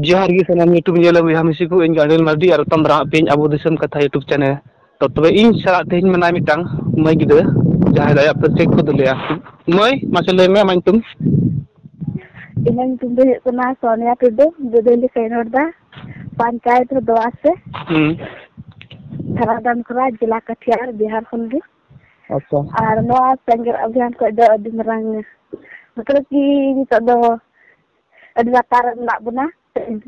ᱡᱚᱦᱟᱨ ᱜᱮ ᱥᱟᱱᱟᱢ ᱭᱩᱴᱩᱵᱽ ᱧᱮᱞ ᱵᱚᱭᱦᱟ ᱢᱤᱥᱤ ᱠᱚ ᱤᱧ ᱜᱟᱲᱮᱱ ᱢᱟᱨᱰᱤ ᱟᱨ ᱛᱚᱢ ᱫᱟᱨᱟᱢ ᱦᱟᱜ ᱯᱮ ᱟᱵᱚ ᱫᱤᱥᱚᱢ ᱠᱟᱛᱷᱟ ᱭᱩᱴᱩᱵᱽ ᱪᱮᱱᱮᱞ ᱛᱚ ᱛᱚᱵᱮ ᱤᱧ ᱥᱟᱞᱟᱜ ᱛᱮᱦᱮᱧ ᱢᱮᱱᱟᱭᱟ ᱢᱤᱫᱴᱟᱝ ᱢᱟᱹᱭ ᱜᱤᱫᱽᱨᱟᱹ ᱡᱟᱦᱟᱸᱭ ᱫᱚ ᱟᱭᱟᱜ ᱯᱟᱹᱨᱥᱤ ᱠᱚ ᱫᱩᱞᱮᱭᱟ ᱢᱟᱹᱭ ᱢᱟᱥᱮ ᱞᱟᱹᱭ ᱢᱮ ᱟᱢᱟᱜ ᱧᱩᱛᱩᱢ ᱤᱧᱟᱹᱜ ᱧᱩᱛᱩᱢ ᱫᱚ ᱦᱩᱭᱩᱜ ᱠᱟᱱᱟ ᱥᱚᱱᱤᱭᱟ ᱴᱩᱰᱩ ᱵᱩᱫᱷᱚᱞᱤ ᱠᱷᱚᱱᱤᱧ ᱨᱚᱲ ᱮᱫᱟ ᱯᱚᱧᱪᱟᱭᱮᱛ ᱫᱚ ᱫᱚᱣᱟᱥᱮ ᱦᱩᱸ ᱛᱷᱟᱱᱟ ᱫᱟᱱᱠᱩᱨᱟ ᱡᱮᱞᱟ ᱠᱟᱴᱤᱭᱟᱨ ᱵᱤᱦᱟᱨ ᱠᱷᱚᱱ ᱜᱮ ᱟᱪᱪᱷᱟ ᱟᱨ ᱱᱚᱣᱟ ᱥᱮᱸᱜᱮᱞ ᱚᱵᱷᱤᱭᱟᱱ ᱠᱷᱚᱡ ᱫᱚ ᱟᱹᱰᱤ ᱢᱟᱨᱟᱝ ᱢᱚᱛᱞᱚᱵ ᱠᱤ ᱱᱤᱛᱚᱜ ᱫᱚ ᱟᱹᱰᱤ ᱞᱟᱛᱟᱨ ᱨᱮ ᱢᱮᱱᱟᱜ ᱵᱚᱱᱟ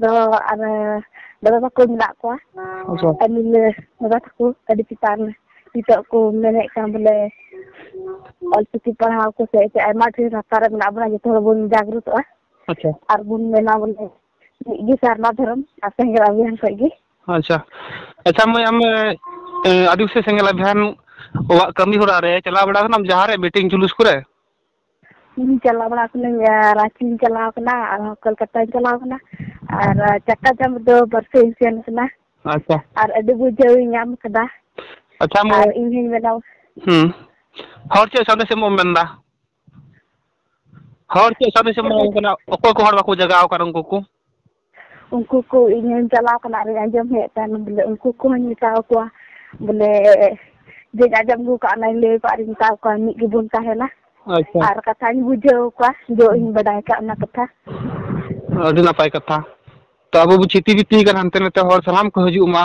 ᱫᱚ ᱟᱨ ᱫᱟᱫᱟ ᱛᱟᱠᱚ ᱢᱮᱱᱟᱜ ᱠᱚᱣᱟ ᱟᱪᱪᱷᱟ ᱟᱹᱞᱤᱧ ᱫᱟᱫᱟ ᱛᱟᱠᱚ ᱟᱹᱰᱤ ᱪᱮᱛᱟᱱ ᱱᱤᱛᱚᱜ ᱠᱚ ᱢᱮᱱᱮᱫ ᱠᱟᱱ ᱵᱚᱞᱮ ᱚᱞᱪᱤᱠᱤ ᱯᱟᱲᱦᱟᱣ ᱠᱚ ᱥᱮ ᱟᱭᱢᱟ ᱰᱷᱮᱨ ᱞᱟᱛᱟᱨ ᱨᱮ ᱢᱮᱱᱟᱜ ᱵᱚᱱᱟ ᱡᱚᱛᱚ ᱦᱚᱲ ᱵᱚᱱ ᱡᱟᱜᱽᱨᱚᱛᱚᱜᱼᱟ ᱟᱪᱪᱷᱟ ᱟᱨ ᱵᱚᱱ ᱢᱮᱱᱟ ᱵᱚᱞᱮ ᱢᱤᱫ ᱜᱮ ᱥᱟᱨᱱᱟ ᱫᱷᱚᱨᱚᱢ ᱟᱨ ᱥᱮᱸᱜᱮᱞ ᱟᱵᱷᱤᱭᱟᱱ ᱠᱷᱚᱡ ᱜᱮ ᱟᱪᱪᱷᱟ ᱟᱪᱪᱷᱟ ᱢᱟᱹᱭ ᱟᱢ ᱟᱹᱫᱤᱵᱟᱹᱥᱤ ᱥᱮᱸᱜᱮᱞ ᱟᱵᱷᱤᱭᱟᱱ ᱚᱲᱟᱜ ᱠᱟᱹᱢᱤ ᱦᱚᱨᱟ ᱨᱮ ᱪᱟᱞᱟᱣ ᱵᱟᱲᱟ ᱠᱟᱱᱟᱢ ᱡᱟᱦᱟᱸ ᱨᱮ ᱢᱤᱴᱤᱝ ᱡᱩᱞᱩᱥ ᱠᱚᱨᱮ ᱤᱧ ᱪᱟᱞᱟᱣ ᱵᱟᱲᱟ ᱠᱟᱹᱱᱟᱹᱧ ᱨᱟᱺᱪᱤᱧ ᱪᱟᱞᱟᱣ ᱠᱟᱱᱟ ᱟᱨᱦᱚᱸ ᱠᱳᱞᱠᱟᱛᱟᱧ ᱪᱟᱞᱟᱣ ᱠᱟᱱᱟ ᱟᱨ ᱪᱟᱠᱟ ᱪᱟᱸᱫᱽ ᱫᱚ ᱵᱟᱨᱥᱮᱧ ᱥᱮᱱ ᱠᱟᱱᱟ ᱟᱪᱪᱷᱟ ᱟᱨ ᱟᱹᱰᱤ ᱵᱩᱡᱷᱟᱹᱣ ᱤᱧ ᱧᱟᱢ ᱠᱟᱫᱟ ᱟᱪᱪᱷᱟ ᱢᱟᱹᱭ ᱟᱨ ᱤᱧ ᱦᱚᱧ ᱢᱮᱱᱟ ᱦᱮᱸ ᱦᱚᱲ ᱪᱮᱫ ᱥᱟᱸᱫᱮᱥ ᱮᱢᱚᱜ ᱮᱢ ᱢᱮᱱᱫᱟ ᱦᱚᱲ ᱪᱮᱫ ᱥᱟᱸᱫᱮᱥ ᱮᱢ ᱮᱢᱟ ᱠᱚ ᱠᱟᱱᱟ ᱚᱠᱚᱭ ᱠᱚ ᱦᱚᱲ ᱵᱟᱠᱚ ᱡᱟᱜᱟᱣ ᱟᱠᱟᱱ ᱩᱱᱠᱩ ᱠᱚ ᱩᱱᱠᱩ ᱠᱚ ᱤᱧ ᱦᱚᱸᱧ ᱪᱟᱞᱟᱣ ᱠᱟᱱᱟ ᱟᱨᱤᱧ ᱟᱸᱡᱚᱢ ᱦᱮᱡ ᱟᱠᱟᱱ ᱵᱚᱞᱮ ᱩᱱᱠᱩ ᱠᱚᱦᱚᱸᱧ ᱢᱮᱛᱟ ᱟᱠᱚᱣᱟ ᱵᱚᱞᱮ ᱡᱮᱧ ᱟᱸᱡᱚᱢ ᱟᱹᱜᱩ ᱠᱟᱜ ᱚᱱᱟᱧ ᱞᱟᱹᱭ ᱟᱠᱚᱣᱟ ᱟᱨᱤᱧ ᱢᱮᱛᱟ ᱠᱚᱣᱟ ᱢᱤᱫ ᱜᱮᱵᱚᱱ ᱛᱟᱦᱮᱱᱟ ᱟᱪᱪᱷᱟ ᱟᱨ ᱠᱟᱛᱷᱟᱧ ᱵᱩᱡᱷᱟᱹᱣ ᱟᱠᱚᱣᱟ ᱡᱮ ᱤᱧ ᱵᱟᱰᱟᱭ ᱠᱟᱜ ᱚᱱᱟ ᱠᱟᱛᱷᱟ ᱟᱹᱰᱤ ᱱᱟᱯᱟᱭ ᱠᱟᱛᱷᱟ ᱛᱚ ᱟᱵᱚ ᱵᱚ ᱪᱷᱤᱛᱤ ᱵᱤᱛᱤ ᱠᱟᱱᱟ ᱦᱟᱱᱛᱮ ᱱᱟᱛᱮ ᱦᱚᱲ ᱥᱟᱱᱟᱢ ᱠᱚ ᱦᱤᱡᱩᱜ ᱢᱟ